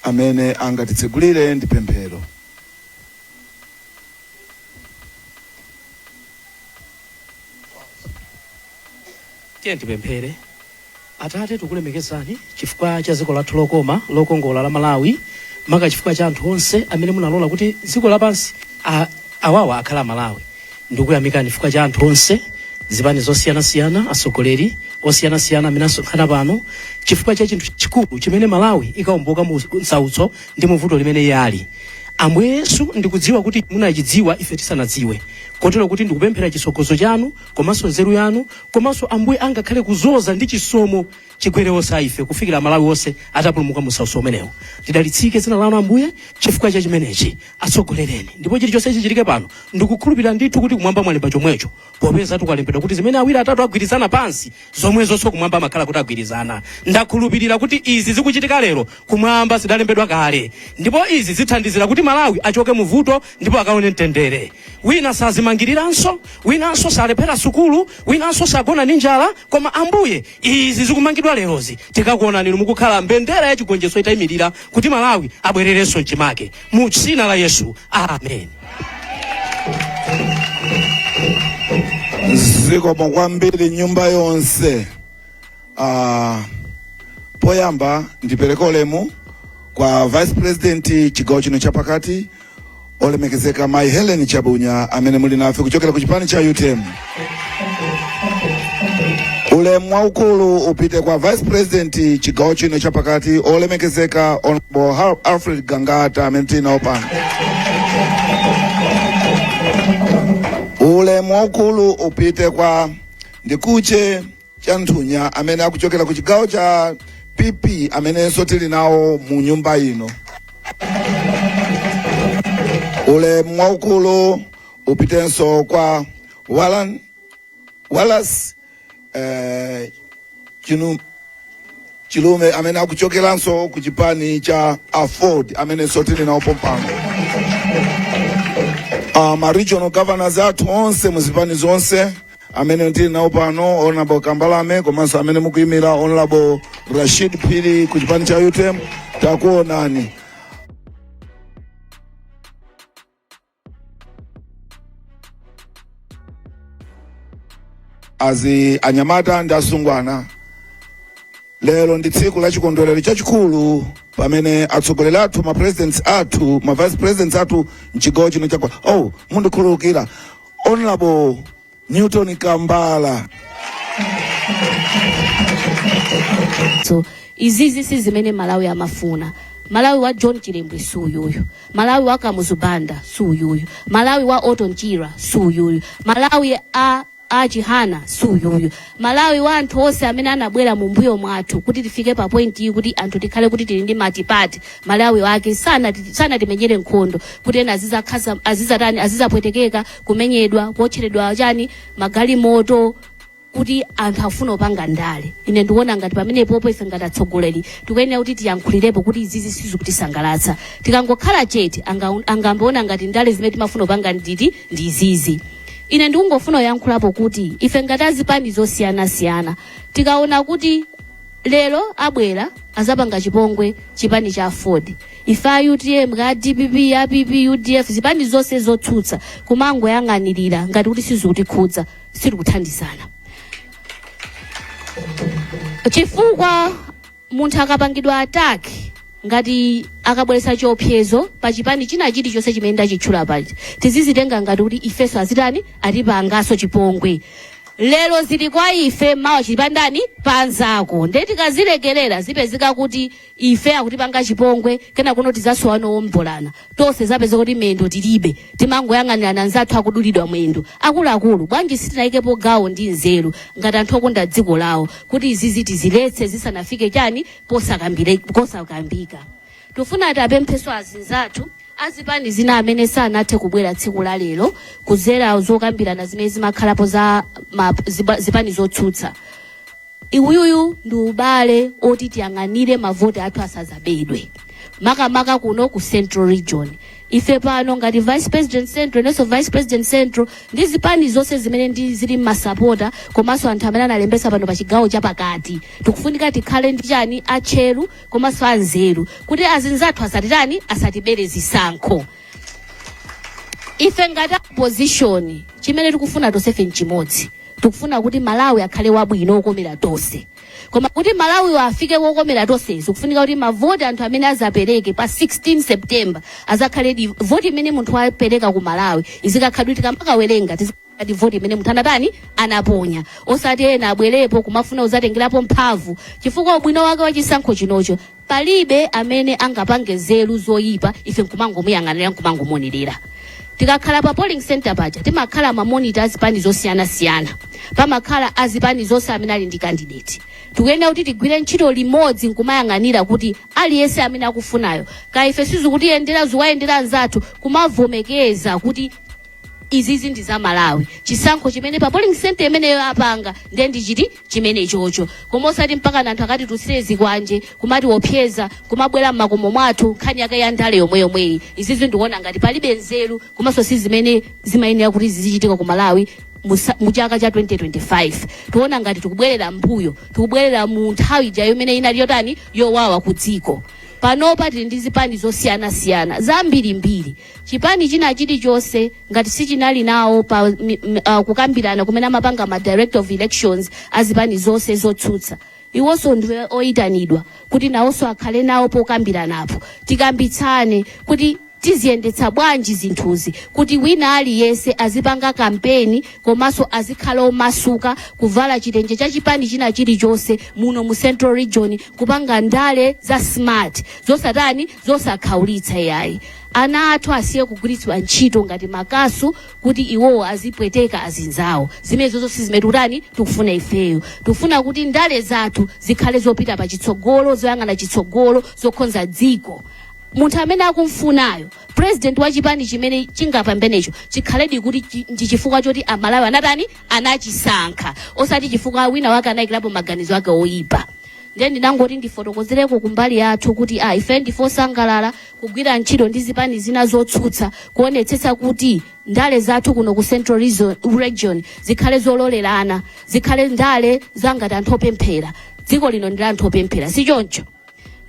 Amene angatitsegulire ndi pemphero. Tiyeni tipemphere. Atate, tikulemekezani chifukwa cha dziko lathu lokoma lokongola la Malawi, maka chifukwa cha anthu onse amene munalola kuti dziko lapansi a, awawa akhale Amalawi. ndikuyamikani chifukwa cha anthu onse zipani zosiyanasiyana atsogoleri osiyanasiyana amene asonkhana pano chifukwa cha chinthu chikulu chimene malawi ikawomboka mu msautso ndi muvuto limene iye ali ambuye yesu ndikudziwa kuti munachidziwa ife tisanadziwe kotero kuti ndikupemphera chitsogozo chanu komanso nzeru yanu komanso ambuye angakhale kudzoza ndi chisomo chigwere onse a ife kufikira amalawi onse atapulumuka mu msautso umenewu lidalitsike dzina lanu ambuye chifukwa cha chimenechi atsogolereni ndipo chilichonse chichitike pano ndikukhulupirira ndithu kuti kumwamba mwalemba chomwecho popeza kudalembedwa kuti zimene awiri atatu agwirizana pansi zomwezonso kumwamba amakhala kuti agwirizana ndakhulupirira kuti izi zikuchitika lero kumwamba zidalembedwa kale ndipo izi zithandizira kuti malawi achoke mu vuto ndipo akaone mtendere wina sazimangiriranso winanso salephera sukulu winanso sagona ndi njala Koma Ambuye izi zikumangidwa lerozi tikakuonani inu mukukhala mbendera ya chigonjetso itayimirira kuti Malawi abwererenso mchimake mu dzina la Yesu amen. zikomo kwambiri nyumba yonse uh, poyamba ndipereke ulemu kwa vice president chigawo chino chapakati olemekezeka mayi helen chabunya amene muli nafe kuchokera ku chipani cha utm ulemu waukulu upite kwa vice president chigawo chino chapakati olemekezeka honorable Har- alfred gangata amene tinawo pano ulemu waukulu upite kwa ndikuche chanthunya amene akuchokera ku chigawo cha pp amenenso tili nawo mu nyumba ino ulemu waukulu upitenso kwa walan wallace eh, chinu chilume amene akuchokeranso ku chipani cha aford amenenso tili nawo pompano uh, ma regional governors athu onse mu zipani zonse amene tili nawo pano honorable kambalame komanso amene mukuyimira honorable rashid phiri ku chipani cha utm takuonani azi anyamata ndi asungwana lero ndi tsiku la chikondwerero chachikulu pamene atsogoleri athu ma presidents athu ma vice presidents athu mchigawo chino chakwa oh mundikhululukira Honorable Newton Kambala. so izizi si zimene malawi amafuna malawi wa john chilembwe si uyuyu malawi wa kamuzu banda si uyuyu malawi wa oton chira si uyuyu malawi a a chihana si uyuyu Malawi wa anthu onse amene anabwera mu mbuyo mwathu kuti tifike pa point iyi kuti anthu tikhale kuti tili ndi matipate Malawi wake sanati- sanatimenyere nkhondo kuti ena azizakha- azizatani azizapwetekeka kumenyedwa kuotcheredwa chani magalimoto kuti anthu afuna kupanga ndale ine ndikuona ngati pamenepopo ife ngati atsogoleri tikuyenera kuti tiyankhulirepo kuti izizi sizikutisangalatsa tikangokhala chete anga- angamaone ngati ndale zimene timafuna kupanga nditi ndi izizi Ine ndikungofuna kuyankhulapo kuti ife ngati azipani zosiyanasiyana tikaona kuti lero abwera azapanga chipongwe chipani cha Aford ife a UTM ka DPP ya PP UDF zipani zonse zotsutsa kumangoyang'anirira ngati kuti sizikutikhudza sitikuthandizana chifukwa munthu akapangidwa attack ngati akabweretsa chiopsezo pa chipani china chilichonse chimene ndachitchula paja tizizitenga ngati kuti ifenso azitani atipanganso chipongwe lero zili kwa ife mawa chili pa ndani pa nzako nde tikazilekerera zipezeka kuti ife akutipanga chipongwe kena kuno tizasowa owombolana Tonse tizapezeka kuti mendo tilibe, timangoyang'anirana anzathu akudulidwa mendo. Akuluakulu, bwanji sitinayikepo gawo ndi nzeru ngati anthu okonda dziko lawo kuti izizi tiziletse zisanafike chani posakambire kosakambika. Tufuna tapemphenso azinzathu azipani zina amene sanathe kubwera tsiku la lero kuzera zokambirana zimene zimakhalapo za ma, ziba, zipani zotsutsa. Uwuwu ndi ubale oti tiyang'anire mavoti athu asazabedwe makamaka kuno ku central region ife pano ngati vice president central inenso vice president central ndi zipani zonse zimene ndi zili ndi masapota komanso anthu amene analembesa pano pa chigawo chapakati tikufunika tikhale ndi chani atcheru komanso anzeru kuti azinzathu asatitani asatibere zisankho ife ngati opposition chimene tikufuna tonsefe nchimodzi tikufuna kuti malawi akhale wabwino wokomera tonse koma kuti malawiyo afike wokomera tonse zikufunika kuti mavoti anthu amene azapereke pa 16 september azakhale di voti imene munthu wapereka ku malawi izikakhala di kuti tikamakawerenga tizi- ngati voti imene munthu anatani anaponya osati ena abwerepo kumafuna kuzatengerapo mphamvu chifukwa ubwino wake wa chisankho chinocho palibe amene angapange nzeru zoyipa ife nkumangomuyang'anira nkumangomuonerera tikakhala pa polling center paja timakhala mamonita azipani zosiyanasiyana pamakhala azipani zonse amene ali ndi candidate tikuyenera kuti tigwire ntchito limodzi nkumayang'anira kuti aliyense amene akufunayo kaya ife sizikutiyendera zikuwayendera anzathu kumavomereza kuti izizi ndi za malawi chisankho chimene pa polling center imeneyo apanga ndiye ndi chiti chimene chocho koma osati mpaka anthu akatitulutsire zikwanje kumatiwopseza kumabwera mmakomo mwathu nkhani yake ya ndale yomwe yomweyi izizi ndikuona ngati palibe nzeru komanso si zimene zimayenera kuti zizichitika ku malawi musa- mu chaka cha 2025 tiona ngati tikubwerera mbuyo tikubwerera mu nthawi ija imene inali yotani yowawa ku dziko panopa tili ndi zipani zosiyanasiyana zambirimbiri Chipani china chilichonse ngati sichinali nawo pa kukambirana kumene amapanga ma director of elections azipani zonse zotsutsa iwonso ndi oyitanidwa kuti nawonso akhale nawo pokambiranapo tikambitsane kuti tiziyendetsa bwanji zinthuzi kuti wina aliyense azipanga kampeni komanso azikhala omasuka kuvala chitenje cha chipani china chilichonse muno mu central region kupanga ndale za smart zosatani zosakhaulitsa yayi ana athu asiye kugwiritsidwa ntchito ngati makasu kuti iwowo azipweteka azinzawo zimenezozo si zimene tikutani tikufuna ifeyo tikufuna kuti ndale zathu zikhale zopita pa chitsogolo zoyang'ana chitsogolo zokhonza dziko munthu amene akumfunayo president wa chipani chimene chingapambenecho chikhaledi kuti chi- ndi chifukwa choti amalawi anatani anachisankha osati chifukwa wina wake anayikirapo maganizo ake oyipa ndiye ndinangoti ndifotokozereko kumbali yathu kuti a ife ndife osangalala kugwira ntchito ndi zipani zina zotsutsa kuonetsetsa kuti ndale zathu kuno ku central region zikhale zololerana zikhale ndale zangati anthu opemphera dziko lino ndi la anthu opemphera si choncho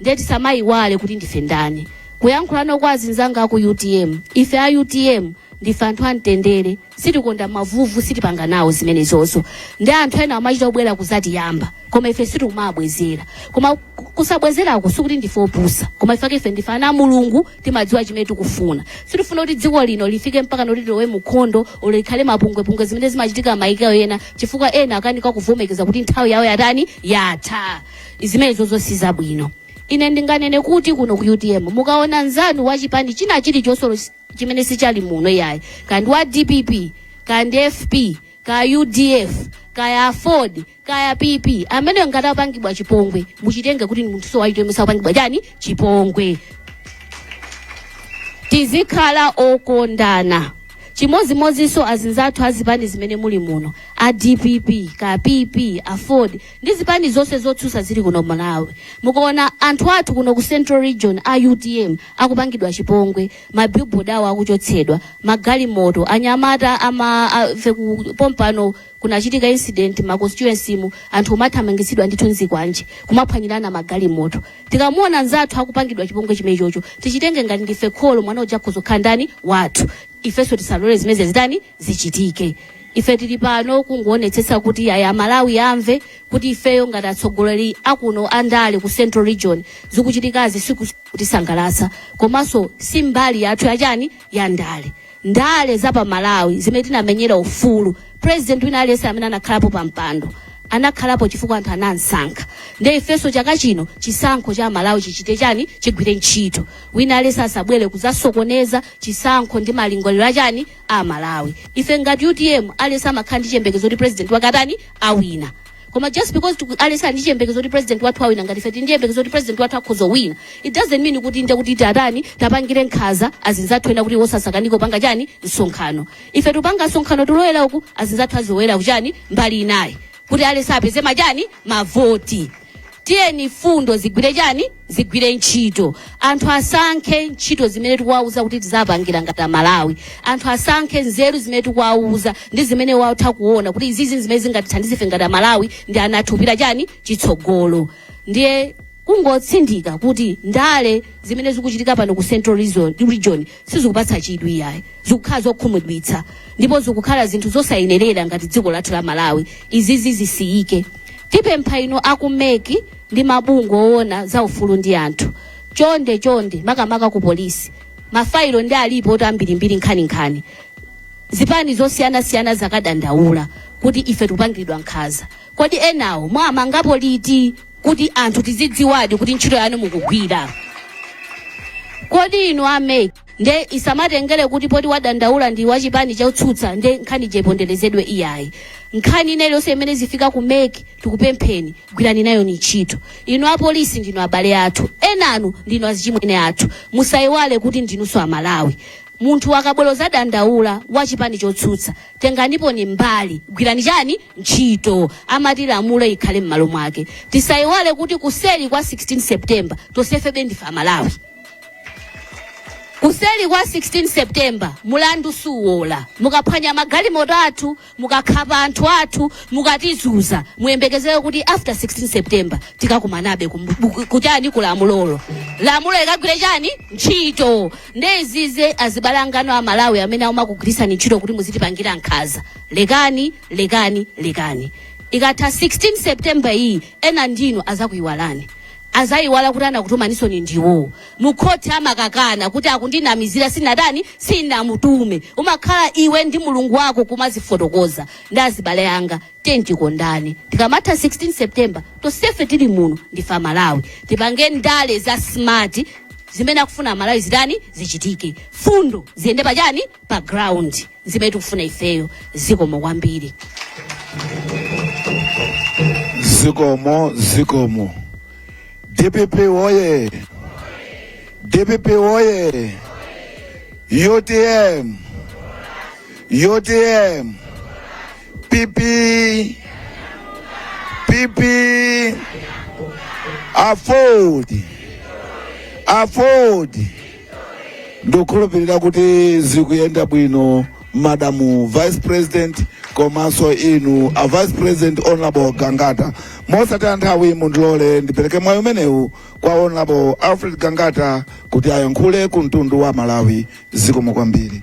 ndiye tisamayiwale kuti ndife ndani kuyankhulano kwa azinzanga aku utm ife a utm ndife anthu amtendere sitikonda mavuvu sitipanga nawo zimenezozo ndi anthu ena amachita kubwera kuzatiyamba koma ife sitimabwezera koma ku- kusabwezerako sikuti ndife opusa koma ifake ife ndife ana a mulungu timadziwa chimene tikufuna sitifuna kuti dziko lino lifike mpakana tilowe munkhondo olo likhale mapungwepungwe zimene zimachitika maiko ena chifukwa ena akanika kuvomekeza kuti nthawi yawo yatani yatha zimenezozo sizabwino ine ndinganene kuti kuno ku utm mukaona nzanu wa chipani china chilichonse olo si- chimene sichali muno yayi ka ndi wa dpp ka ndi fp kaya udf kaya aford kaya pp amene ngati apangidwa chipongwe muchitenge kuti ndi munthunso wa utm akupangidwa chani chipongwe tizikhala okondana chimodzimodzinso azinzathu azipani zimene muli muno a dpp ka pp aford Ndi zipani zonse zotsutsa zili kuno Malawi mukuona anthu athu kuno ku central region a utm akupangidwa chipongwe ma billboard awo akuchotsedwa magalimoto anyamata ama a, fe ku pompano kunachitika incident ma constituency mu anthu kumathamangitsidwa ndithu ndi zikwanje kumaphwanyirana magalimoto tikamuona nzathu akupangidwa chipongwe chimenechocho tichitenge ngati ndife kholo mwana uja akhoza kukhala ndani wathu ifenso tisalole zimenezi zitani zichitike. Ife tili pano kungoonetsetsa kuti yayi Amalawi amve kuti ifeyo ngati atsogoleri akuno andale ku Central Region zikuchitikazi sizikutisangalatsa komanso si mbali yathu yachani ya ndale. Ndale za pa Malawi zimene tinamenyera ufulu president wina aliyense amene anakhalapo pa mpando anakhalapo chifukwa anthu anamsankha nde ifenso chaka chino chisankho cha Amalawi chichite chani chigwire ntchito wina aliyense asabwere kuzasokoneza chisankho ndi malingaliro achani A Malawi ife ngati utm aliyense amakhala ndi chiyembekezo kuti president wake atani awina koma just because tiku- aliyense ali ndi chiyembekezo kuti president wathu awina ngati ife tili ndi chiyembekezo kuti president wathu akhoza kuwina it doesn't mean kuti nde titani tiwapangire nkhaza azinzathu ena kuti awo asakanike kupanga chani msonkhano ife tikupanga msonkhano tikulowera uku azinzathu azilowera kuchani mbali inayi kuti aliyense apeze machani mavoti tiyeni fundo zigwire chani zigwire ntchito anthu asankhe ntchito zimene tikuwauza kuti tizawapangira ngati amalawi anthu asankhe nzeru zimene tikuwauza ndi zimene atha kuona kuti izizi zimene zingatithandize ife ngati amalawi ndi ana athu kupita chani chitsogolo ndiye kungotsindika kuti ndale zimene zikuchitika pano ku central region sizikupatsa chidwi iyayi zikukhala zokhumudwitsa ndipo zikukhala zinthu zosayenerera ngati dziko lathu la malawi izizi zisiyike tipempha inu a ku mec ndi mabungwe owona za ufulu ndi anthu chonde chonde makamaka ku polisi mafailo nde alipotu ambirimbiri nkhaninkhani zipani zosiyanasiyana zakadandaula kuti ife tikupangiridwa nkhaza kodi enawo mwawamangapo liti kuti anthu tizidziwadi kuti ntchito yanu mukugwira kodi inu a mec nde isamatengere kuti poti wadandaula ndi wachipani chotsutsa nde nkhani ija iponderezedwe iyayi nkhani ina iliyonse imene izifika ku mec tikupempheni gwirani nayoni ntchito inu apolisi ndinu abale athu enanu ndinu azichimwene athu musayiwale kuti ndinunso amalawi munthu akabwera kuzadandaula wachipani chotsutsa tenganiponi mbali gwirani chani ntchito amati lamulo likhale mmalo mwake tisaiwale kuti kuseli kwa 16 september tonsefebe ndife amalawi kuseli kwa 16 september mulandu suola mukaphwanya magalimoto athu mukakhapa anthu athu mukatizunza muyembekezere kuti after 16 september tikakumanabe kum- bu- kuchani ku lamulolo lamulo likagwire chani ntchito nde aziziwe azibale anganu amalawi amene amakugwiritsani ntchito kuti muzitipangira nkhaza lekani lekani lekani ikatha 16 september iyi ena ndinu azakuyiwalani azayiwala kuti anakutumani ndi iwo mukhoti amakakana kuti akundinamizira sindinatani sindinamutume umakhala iwe ndi mulungu wako kumadzifotokoza nde azibale anga tiyeni tikondane tikamatha 16 september tonsefe tili muno ndife amalawi tipange ndale za smart zimene akufuna amalawi zitani zichitike mfundo ziyende pachani pa ground zimene tikufuna ifeyo zikomo kwambiri zikomo zikomo dpp oye dpp oye utm utm pp pp aford aford ndikukhulupirira kuti zikuyenda bwino madamu vice president komanso inu a vice president honorable gangata mosataya nthawi mundilole ndipereke mwayi umenewu kwa honorable alfred gangata kuti ayankhule ku mtundu wa malawi zikomo kwambiri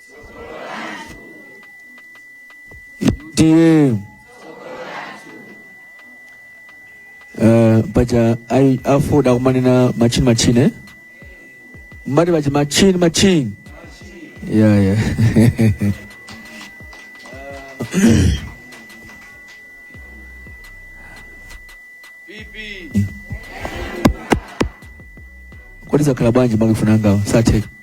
tiye Eh, paja a aford kumanena machini machine mmati paja machini machini yeah, yeah. kodi zakhala bwanji maikofoni angawo satheka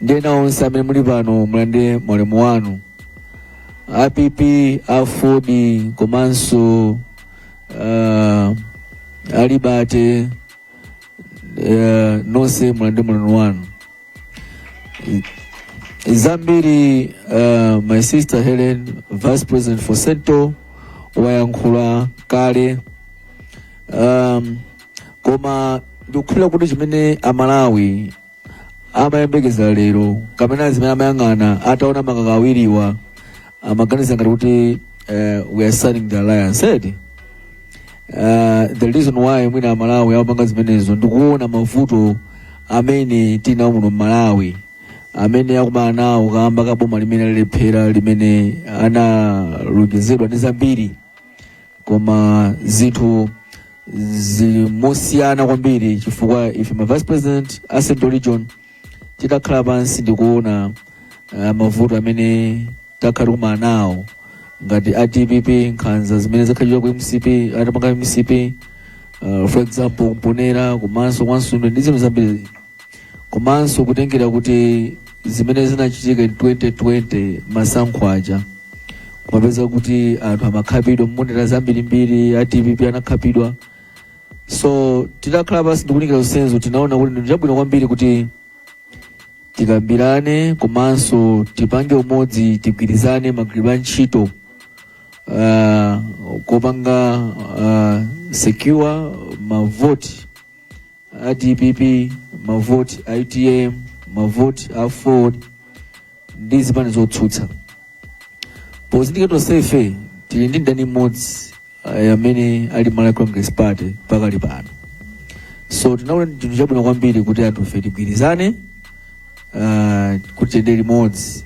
ndi ena onse amene muli pano mulandire maulemu wanu a pp aford komanso uh, alibate uh, nonse mulandire maulemu wanu zambiri uh, my sister helen vice president for central wayankhula kale um, koma ndikukhulupirira kuti chimene amalawi amayembekeza lero kapena zimene amayang'ana ataona makaka awiriwa amaganiza ngati kuti eh, we are signing the alliance and uh, the reason why mwina amalawi amapanga zimenezo ndikuona mavuto amene tili nawo muno mmalawi amene akumana nawo kamba ka boma limene lalephera limene analonjezedwa nalo zambiri koma zinthu zili mosiyana kwambiri chifukwa ife ma vice president a central region titakhala pansi ndikuona uh, mavuto amene takhala tikumana nawo ngati a dpp nkhanza zimene zakhala zikuchitika ku mcp atapanga mcp uh, for example mponera komanso kwa nsundwe ndi zinthu zambiri komanso kutengera kuti zimene zinachitika in 2020 masankho aja kumapeza kuti anthu amakhapidwa mponera zambirimbiri a dpp anakhapidwa so titakhala pansi ndikunikira zonsezo tinaona kuti ndi chabwino kwambiri kuti tikambirane komanso tipange umodzi tigwirizane magwiridwe a ntchito uh, kopanga uh, secure mavoti a dpp mavoti a utm mavoti a aford ndi zipani zotsutsa pozindikira tonsefe tili ndi mdani mmodzi eh, amene ali malawi congress party pakali pano so tinaona ndi chinthu chabwino kwambiri kuti anthufe tigwirizane uh, kuti tiyende limodzi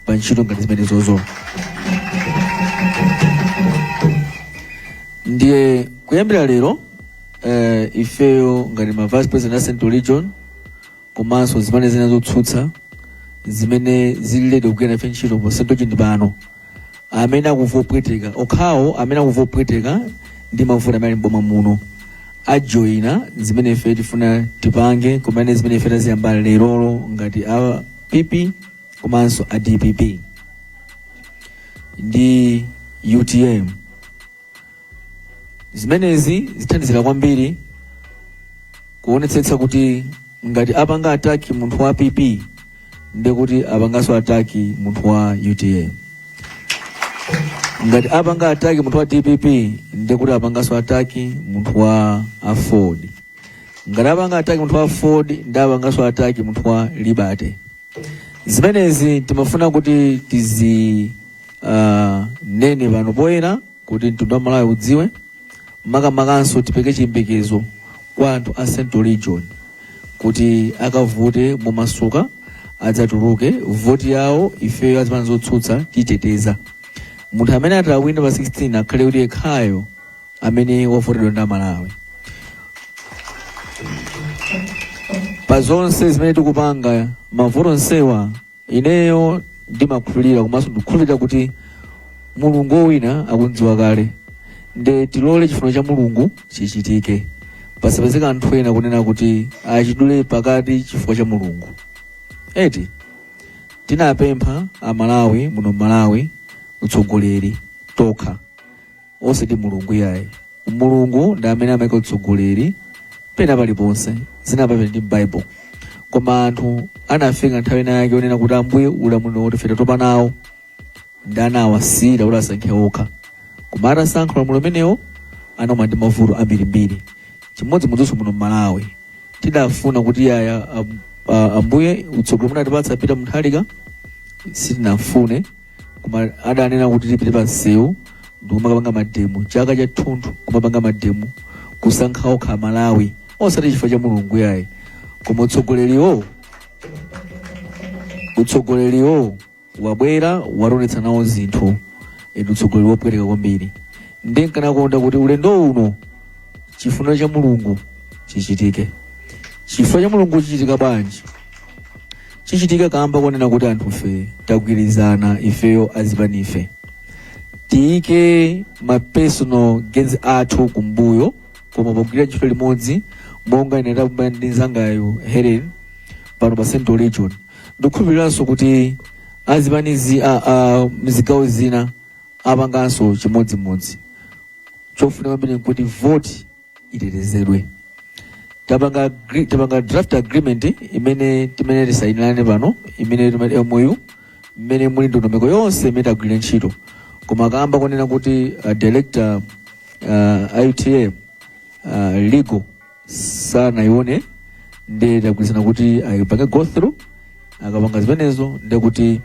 pa ntchito ngati zimene zozo ndiye kuyambira lero eh, ifeyo ngati ma vice president a central region komanso zimene zina zotsutsa zimene zili ready kugwira nafe ntchito pa central region pano amene akumva kupweteka okhawo amene akumva kupweteka ndi mavuto amene ali m'boma muno ajoyina zimene ife tifuna tipange komanso zimene ife taziyamba lerolo ngati a pp komanso a dpp ndi utm zimenezi zithandizira kwambiri kuonetsetsa kuti ngati apanga attack munthu wa pp ndekuti apanganso attack munthu wa utm ngati apanga attack munthu wa dpp ndekuti apanganso attack munthu wa aford ngati apanga attack munthu wa aford nde apanganso attack munthu wa liberty zimenezi timafuna kuti tizi uh, nene pano poyera Kuti mtundu wa Malawi udziwe, makamakanso tipereke chiyembekezo kwa anthu a Central Region kuti akavote momasuka, adzatuluke, vote yawo ifeyo a zipani zotsutsa titeteza. Munthu amene atawina pa 16 akhale kuti yekhayo amene wavotedwa ndi Amalawi. Pa zonse zimene tikupanga, mavuto onsewa Ineyo ndimakhulupirira komanso ndikukhulupirira kuti mulungu wowina akumudziwa kale nde tilole chifuniro cha mulungu chichitike pasapezeke anthu ena kunena kuti achidule pakati chifuniro cha mulungu eti tinapempha amalawi muno malawi utsogoleri tokha osati mulungu yayi mulungu ndi amene amaika utsogoleri penapaliponse zinayamba ndi bible koma anthu anafika nthawi ina yake onena kuti ambuye ulamuliro wotu ife tatopa nawo ndiye anawasiyira kuti asankhe okha koma atasankha ulamuliro umenewo anaona ndi mavuto ambirimbiri chimodzimodzinso muno mmalawi tidafuna kuti yaya am- a- ambuye utsogoleri munatipatsa peter mutharika sitinafune koma adanena kuti tipite pa msewu ndikumakapanga mademo chaka chathunthu kumapanga mademo kusankha okha amalawi osati chifukwa cha mulungu yayi koma utsogoleriwo utsogoleriwo wabwera watonetsa nawo zinthu ndi utsogoleri wopweteka kwambiri ndiye ndikanakonda kuti ulendo uno chifuniro cha mulungu chichitike chifuniro cha mulungu chichitika bwanji chichitika kamba konena kuti anthufe tagwirizana ifeyo azipanife tiyike ma personal gains athu kumbuyo koma pogwirira ntchito limodzi monga ine ndapanga ndi nzangayo helen pano pa central region ndikukhulupiriranso kuti azipanizi a- a- mzigawo zina apanganso chimodzimodzi chofunika kwambiri nkuti voti itetezedwe tapanga agri- tapanga draft agreement imene timene tisainirane pano imene timati MOU imene muli ndondomeko yonse imene tigwirire ntchito koma kamba konena kuti a director a UTM a legal sanaione ndiye tagwirizana kuti ayipange go through akapanga zimenezo ndi kuti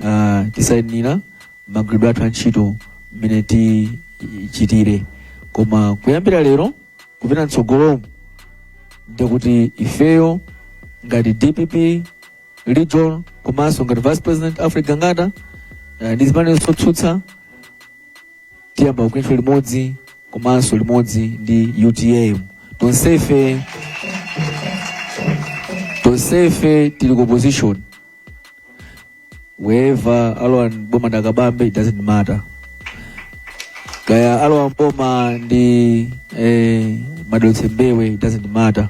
uh, tisainira mmagwiridwe athu antchito mmene tichitire koma kuyambira lero kupita mtsogolomu ndikuti ifeyo ngati dpp region komanso ngati vice president alfred gangata eh, ndi zipani zotsutsa tiyamba kugwira ntchito limodzi komanso limodzi ndi utm tonsefe tonsefe tili ku opposition wherever alowa mboma ndi a kabambe it doesn't matter kaya alowa mboma ndi eh, a david mbewe it doesn't matter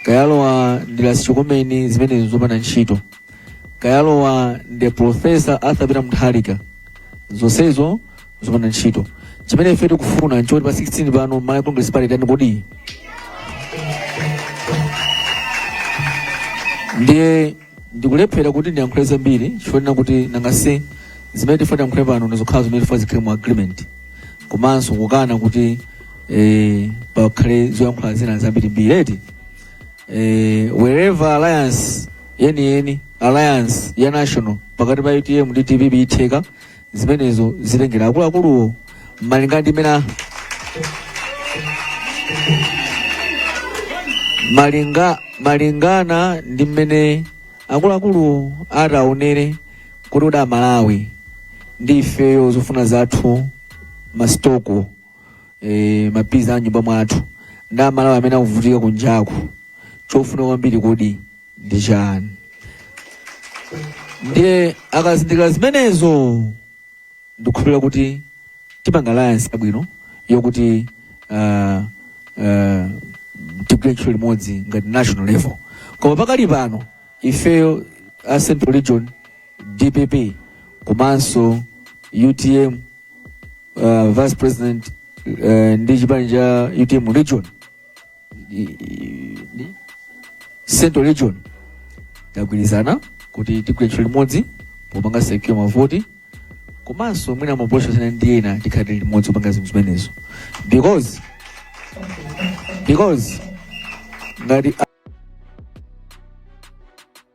kaya alowa ndi lasichokomeni zimenezo nzopanda ntchito kaya alowa ndi professor arthur peter mutharika zonsezo zopanda ntchito chimene ife tikufuna nchoti pa 16 pano malawi congress party itani kodi ndiye Ndikulephera kuti ndiyankhule zambiri chifukwa chonena kuti nanga si zimene tifuna tiyankhule pano ndi zokhala zimene tifuna zikhale mu agreement komanso kukana kuti eh, pakhale zoyankhula zina zambirimbiri eti eh, wherever alliance yeniyeni alliance ya national pakati pa utm ndi dpp itheka zimenezo zitengera akuluakuluwo malinga ndi mena malinga malingana ndi mmene akuluakulu ataonere kuti mwina amalawi ndi ifeyo zofuna zathu masitoko e, maphwando a nyumba mwathu ndi amalawi amene akuvutika kunjaku chofuna kwambiri kodi ndi chani ndiye akazindikira zimenezo ndikukhulupirira kuti tipanga alliance yabwino yokuti uh, uh, tigwire ntchito limodzi ngati national level koma pakali pano ifeyo a central region Dpp komanso utm uh, vice president uh, ndi chipani cha utm region i- i- ndi- central region tagwirizana kuti tigwire ntchito limodzi popanga secure mavoti komanso mwina ma approach ena ndi ena tikhalire limodzi kupanga zinthu zimenezo because because ngati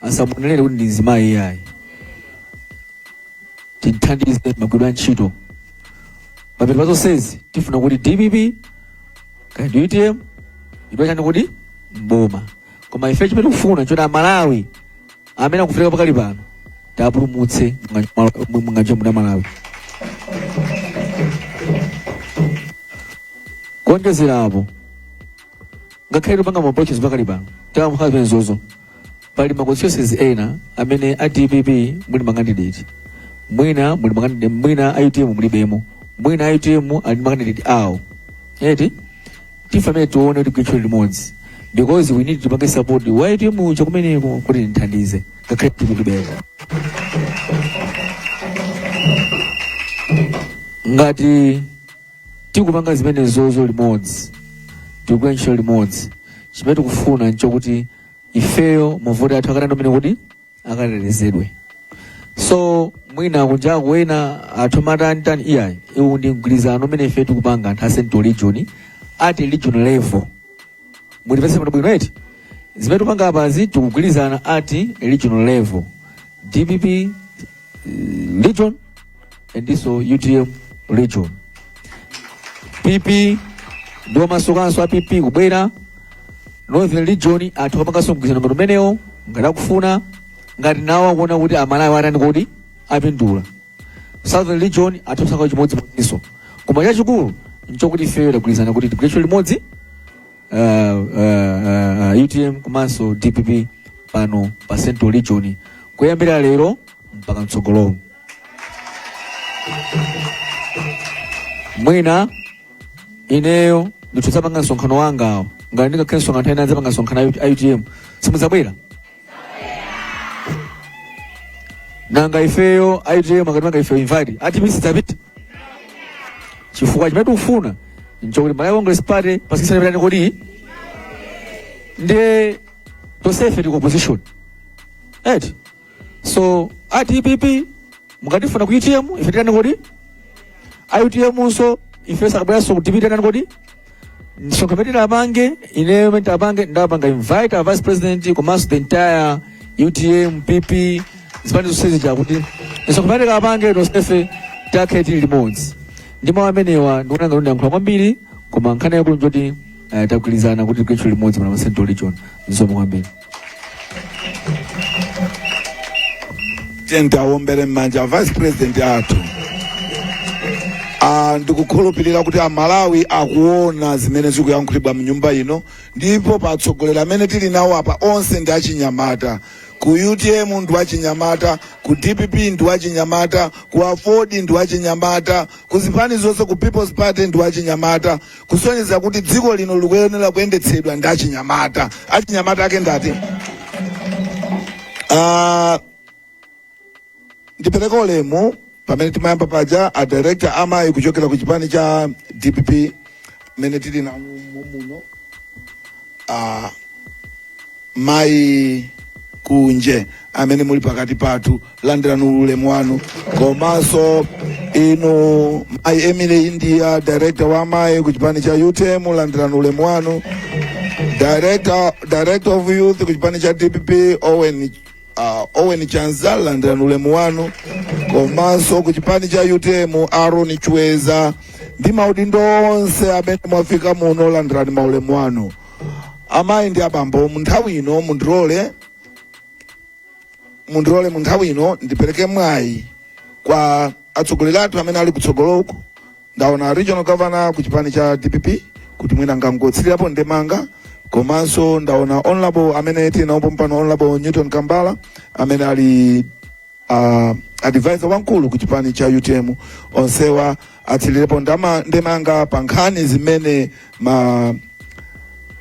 asamuonelere kuti ndi mzimayi iyayi tithandize magwiridwe a ntchito pamene pa zonsezi tifuna kuti dpp kaya ndi utm idwa chani kuti mboma koma ife chimene tikufuna choti amalawi amene akuvutika pakali pano tiwapulumutse munganja muda malawi kuonjezera apo ngakhale tikupanga ma approaches pakali pano tawa mukhala zimenezozo pali ma constituencies ena amene a dpp muli ma candidate mwina muli ma candidate mwina a utm mulibemo mwina a utm ali ma candidate awo eti ndife amene tione kuti tigwire ntchito limodzi because we need tipange support wa utm uja kumeneko kuti timuthandize ngakhale tikutibera ngati tikupanga zimenezozo limodzi tikugwira ntchito limodzi chimene tikufuna nchokuti ifeyo mavoti athu akatani amene kuti akatetezedwe so mwina kunjaku ena atha kumatani tani iyayi uwu ndi mgwirizano umene ife tikupanga anthu a central region at a regional level mumvetsetse pano bwino eti zimene tikupanga apazi tikugwirizana at a regional level dpp eh, region and also utm region pp ndi omasukanso a pp kubwera northern region atha kupanganso mgwirizano ngati umenewo ngati akufuna ngati nawo akuona kuti amalawi atani kodi apindula southern region atha kusankha chimodzimodzinso koma chachikulu nchokuti ifeyo tagwirizana kuti tigwire ntchito limodzi uh, uh, uh, utm komanso dpp pano pa central region kuyambira lero mpaka mtsogolomo mwina ineyo ndikudzapanga msonkhano wanga awo ngati ndingakhale msonkhano nthawi inayi adzapanga msonkhano a utm simudzabwera nanga ifeyo a utm akatimanga ifeyo invite a dpp sitidzapita chifukwa chimene tikufuna nchokuti malawi congress party basi kusana titani kodi ndiye tonsefe tili ku opposition eti so a dpp mukatifuna ku utm ife titani kodi a utm nso ife akabweranso ku dpp titani kodi msonkhano umene tikapange ineyo umene tikapange ndapanga invite a vice president komanso the entire utm pp zipani zonse zija kuti msonkhano umene tikapange tonsefe tikakhale tili limodzi ndi mawu amenewa ndikuona ngati ndiyankhula kwambiri koma nkhani yakulu njoti eh, tagwirizana kuti tigwire ntchito limodzi pano pa central region zikomo kwambiri tawaombereni mmanja a vice president athu Ah, ndikukhulupirira kuti amalawi akuona zimene zikuyankhulidwa mnyumba ino ndipo atsogoleri amene tili nawo apa onse ndi achinyamata ku utm ndi wachinyamata ku dpp ndi wachinyamata ku aford ndi wachinyamata ku zipani zonse ku people's party ndi wachinyamata kusonyeza kuti dziko lino likuyenera kuyendetsedwa ndi achinyamata achinyamata ake ndi ati Ah, ndipereke ulemu pamene timayamba paja a director a amayi kuchokera ku chipani cha dpp amene tili nawo mu- muno ah, mayi kunje amene muli pakati pathu landirani ulemu wanu komanso inu mayi emily india director wa amayi ku chipani cha utm landirani ulemu wanu director, director of youth ku chipani cha dpp owen uh, owen chanza landirani ulemu wanu komanso ku chipani cha utm aaron chweza ndi maudindo onse amene mwafika muno landirani ulemu wanu amayi ndi abambo mu nthawi ino mundilole mundilole mu nthawi ino ndipereke mwayi kwa atsogoleri athu amene ali kutsogoloku ndaona regional governor ku chipani cha dpp kuti mwina angotsirirapo ndemanga komanso ndaona honorable amene tinawaona pano honorable newton kambala amene ali uh, advisor wamkulu ku chipani cha utm onsewa atsirirepo ndama- ndemanga pa nkhani zimene ma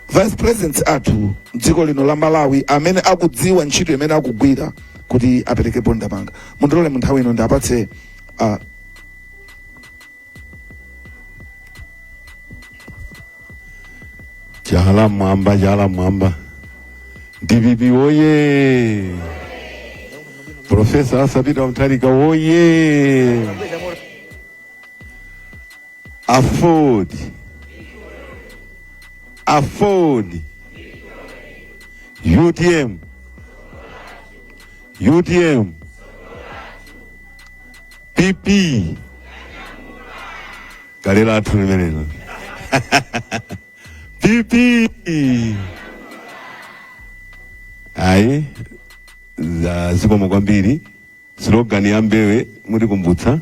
vice presidents athu mdziko lino la malawi amene akudziwa ntchito imene akugwira kuti aperekepo ndemanga mundilole munthawi ino ndiwapatse uh, chala mwamba chala mwamba dpp oye profesa Arthur Peter Mutharika oye aford aford utm utm pp kale lathu limenelo pp ayi zikomo kwambiri Slogan ya Mbewe muzitikumbutsa.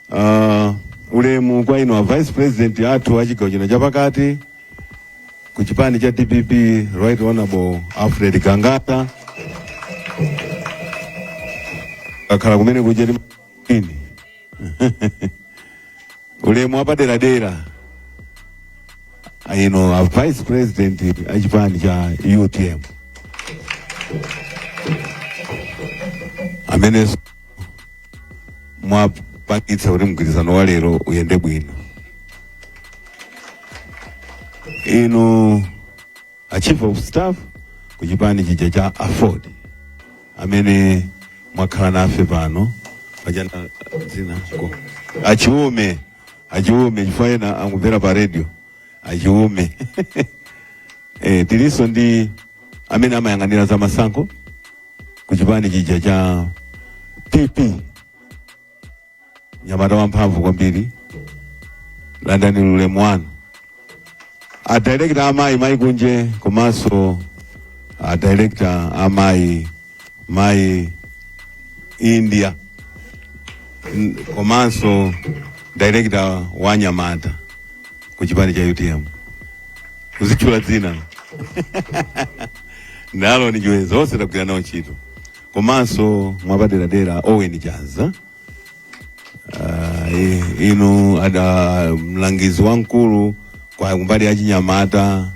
Uh, ulemu kwa inu a Vice President athu a chigawo chino chapakati ku chipani cha DPP Right Honorable Alfred Gangata akhala kumene kuja ndi mapini ulemu wapaderadera inu a vice president achipani cha utm amenenso mwapangitsa kuti mgwirizano wa lero uyende bwino inu a chief of staff ku chipani chija cha aford amene mwakhala nafe pano pajana dzina ko achiume achiume chifukwa ena amamvera pa radio achiume e, tilinso ndi amene amayang'anira za masankho ku chipani chija cha pp mnyamata wamphamvu kwambiri landani ulemu wanu adirekta amayi mayi kunje komanso adirekta amayi mayi india N- komanso director wa anyamata ku chipani cha utm sindikutchula dzina lanu ndinaiwala zonse tagwira nawo ntchito komanso mwapaderadera Owen Chanza uh, inu ada mlangizi wamkulu kwa kumbali ya chinyamata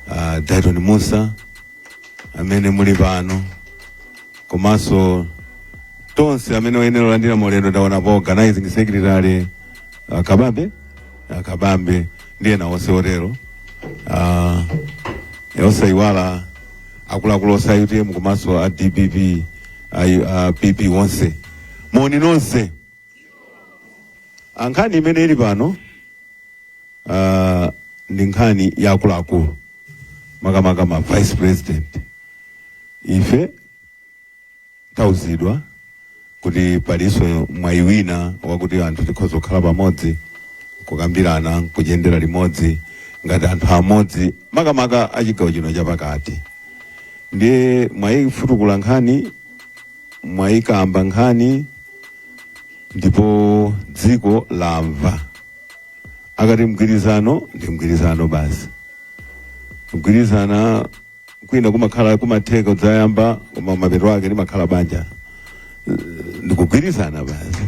uh, Dayton Musa amene muli pano komanso nonse amene mwayenera kulandira maulemu ndaona pa organizing secretary uh, Kababe a Kabambe ndi ena onse otero Ah, eh, osayiwala akuluakulu onse a utm komanso a dpp a, a pp onse moni nonse Ah, nkhani imene ili pano ah, ndi nkhani ya akuluakulu makamaka ma vice president ife Tauzidwa kuti palinso mwayi wina wakuti anthu tikhoza kukhala pamodzi kukambirana nkuyendera limodzi ngati anthu amodzi makamaka achigawo chino chapakati ndiye mwayifutukula nkhani mwayikamba nkhani ndipo dziko lamva akati mgwirizano ndi mgwirizano basi kugwirizana kwina kumakhala kumatheka kudzayamba koma mapeto ake limakhala banja ndikugwirizana basi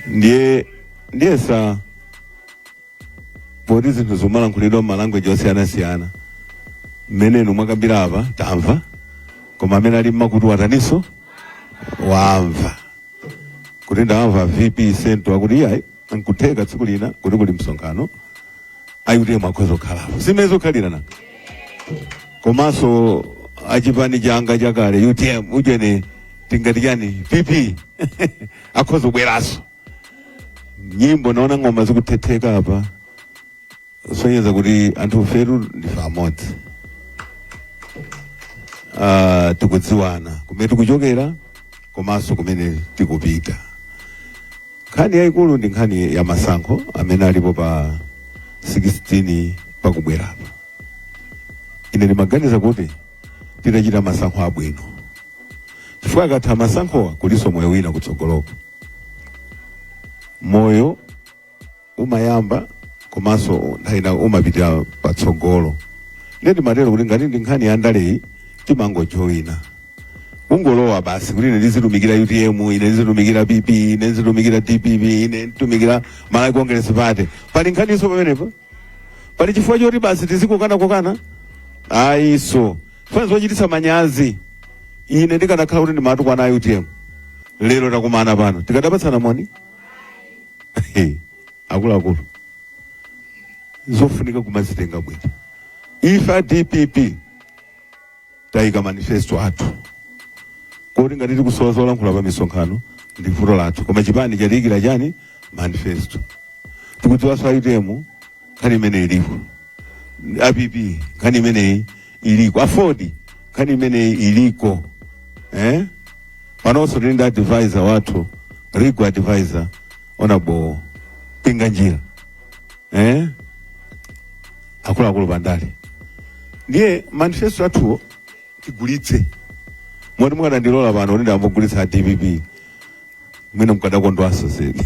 ndiye ndiyesa poti zinthu zimalankhulidwa m'malanguage osiyanasiyana mmene inu mwakambira apa tamva koma amene ali mmakutu watanso wamva kuti ndamva vp senta akuti iyayi nkutheka tsiku lina kuti kuli msonkhano a utm akhoza kukhalapo simene zokhalirana komanso achipani changa chakale utm ujeni tingati chani pp akhoza kubweranso nyimbo naona ng'oma zikuthetheka apa kusonyeza kuti anthu ifetu ndife amodzi Ah, tikudziwana kumene tikuchokera komanso kumene tikupita. Nkhani yayikulu ndi nkhani ya masankho amene alipo pa 16 pakubwerapa. Ine ndimaganiza kuti titachita masankho abwino chifukwa akatha masankhowa kulinso moyo wina kutsogoloko moyo umayamba komanso nthawi ina umapitira patsogolo ndiye ndimatero kuti ngati ndi nkhani ya ndaleyi umangojoyina ungolowa basi kuti ine ndizitumikira utm ine ndizitumikira pp ine ndizitumikira dpp ine ndizitumikira malawi congress party pali nkhaninso pamenepo pali chifukwa choti basi tizikokana kokana ayi sitifuna zochititsa manyazi ine ndikanakhala kuti ndimatukwana utm lero takumana pano tikadapatsana moni akuluakulu zofunika kumazitenga bwino ife a dpp tayika manifesto athu kuti ngati tikusowa zolankhula pa misonkhano ndi vuto lathu koma chipani chatiyikira chani manifesto tikudziwanso a utm nkhani imeneyi ilipo APP nkhani imeneyi iliko AFORD nkhani imeneyi iliko eh? pano tili ndi advisor wathu legal advisor Honourable Pinganjira eh? akuluakulu pandale ndiye manifesto athuwo tigulitse moti mukadandilola pano kuti ndambagulitsa a dpp mwina mkadakondwanso zedi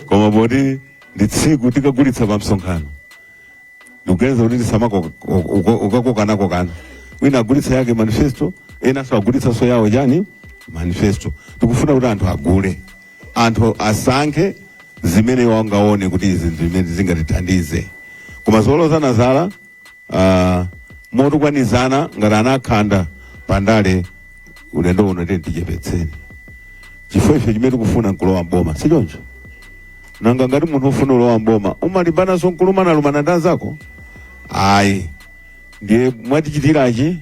koma poti ndi tsiku tikagulitsa pa msonkhano ndikuganiza kuti tisamakokanakokana wina agulitsa yake manifesto enanso agulitsanso yawo chani manifesto tikufuna kuti anthu agule anthu asankhe zimene angaone kuti izi ndi zimene zingatithandize koma zolozana zala uh, motukwanizana ngati anakhanda pandale ulendo uno tiyeni tichepetseni chifukwa ife chimene tikufuna nkulowa mboma si choncho nanga ngati munthu ufuna ulowa mboma umalimbanaso nkulumana lumana ndi anzako ayi ndiye mwatichitirachi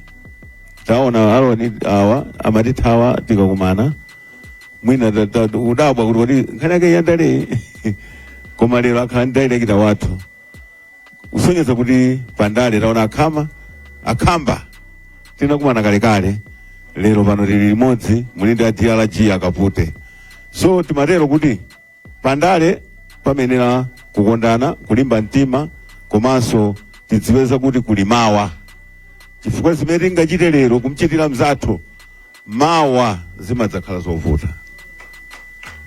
taona a Roni awa amatithawa tikakumana mwina ta- ta- ta- udabwa kuti kodi nkhani yake yandale koma lero akhala ndi director wathu kusonyeza kuti pandale taona akhama akhamba tinakumana kalekale lero pano tili limodzi muli ndi a drg a Kapute so timatero kuti pandale payenera kukondana kulimba mtima komanso tidziwe kuti kuli mawa chifukwa zimene tingachite lero kumchitira mzathu mawa zimadzakhala zovuta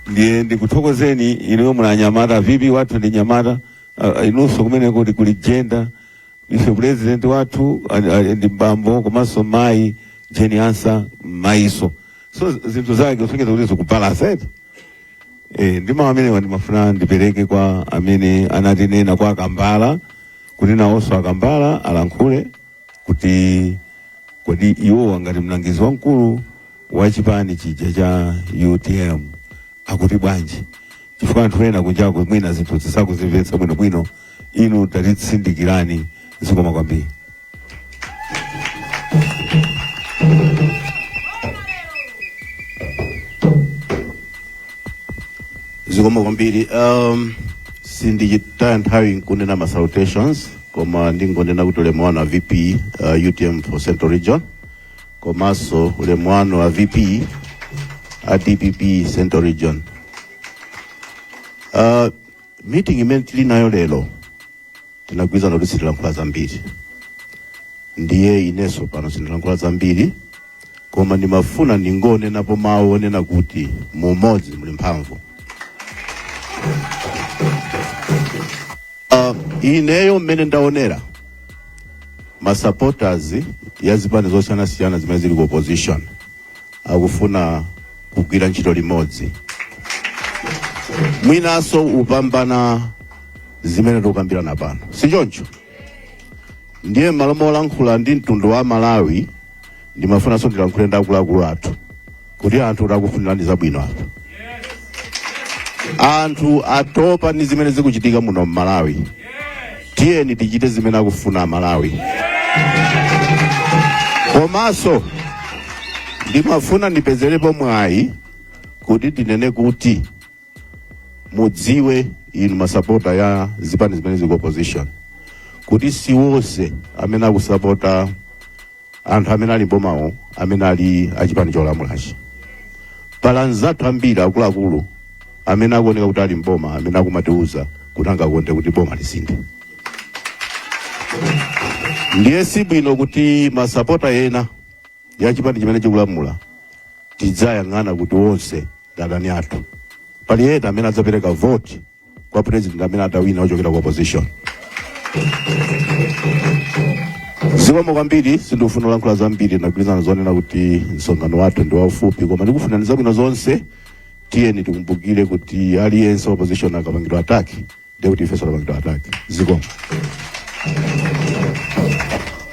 ndiye ndikuthokozeni inuyo muli anyamata vipi wathu ndi mnyamata Ah, inunso kumene kuti kuli gender ife president wathu ali- ali ndi bambo komanso mayi Jane Ansah mayiso so zinthu zake kusonyeza kuti zikubalansa eti Eh, ndi mawu amenewa ndimafuna ndipereke kwa amene anatinena kwa a Kambala kuti nawonso a Kambala alankhule kuti kodi iwo ngati mlangizi wamkulu wa chipani chija cha utm akuti bwanji chifukwa anthu ena kunjako mwina zinthu sakuzimvetsa bwinobwino inu tatitsindikirani zikomo kwambiri zikomo kwambiri um, sinditaya nthawi nkunena ma salutations koma ndingonena kuti ulemu wanu a vp uh, utm for central region komanso ulemu wanu a vp a dpp central region uh, meeting imene tili nayo lero tinagwirizana kuti sitilankhula zambiri ndiye inenso pano sindilankhula zambiri koma ndimafuna ndingonenapo mawu onena kuti mu umodzi muli mphamvu Ah, ineyo mmene ndaonera masupporters ya zipani zosiyanasiyana zimene zili ku opposition akufuna kugwira ntchito limodzi mwinanso kupambana zimene tikukambirana pano si choncho ndiye m'malo molankhula ndi mtundu wa malawi ndimafunanso ndilankhule ndi akuluakulu athu kuti anthu akufunirani zabwino apa anthu atopa ndi zimene zikuchitika muno m'malawi tiyeni tichite zimene akufuna amalawi komanso ndimafuna ndipezerepo mwayi kuti ndinene kuti mudziwe inu masapota ya zipani zimene zili ku opposition kuti si wonse amene akusapota anthu amene ali mbomawo amene ali achipani cholamulachi pali anzathu ambiri akuluakulu amene akuoneka kuti ali mboma amene akumatiuza kuti angakonde kuti boma lisinthe ndiye si bwino kuti masapota ena ya chipani chimene chikulamula tiziwayang'ana kuti onse ndi adani athu pali ena amene adzapereka vote kwa president amene adzawina ochokera ku opposition zikomo kwambiri sindikufuna kulankhula zambiri tagwirizana zonena kuti msonkhano wathu ndi waufupi koma ndikufunirani zabwino zonse tiyeni tikumbukire kuti aliyense opposition akapangidwa attack ndiye kuti ifenso tapangidwa attack zikomo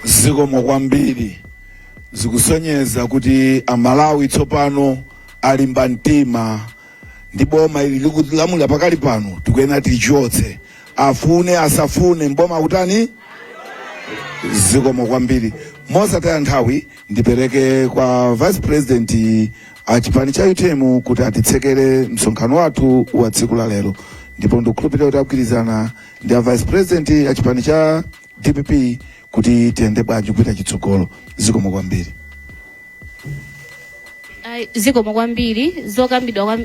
zikomo kwambiri zikusonyeza kuti amalawi tsopano alimba mtima ndi boma ili likulamulira pakali pano tikuyenera tilichotse afune asafune mboma kutani zikomo kwambiri mosataya nthawi ndipereke kwa vice president a chipani cha utm kuti atitsekere msonkhano wathu wa tsiku la lero ndipo ndikukhulupirira kuti agwirizana ndi a vice president a chipani cha dpp kuti tiyende bwanji kupita chitsogolo zikomo kwambiri Ai, zikomo kwambiri zokambidwa kwam-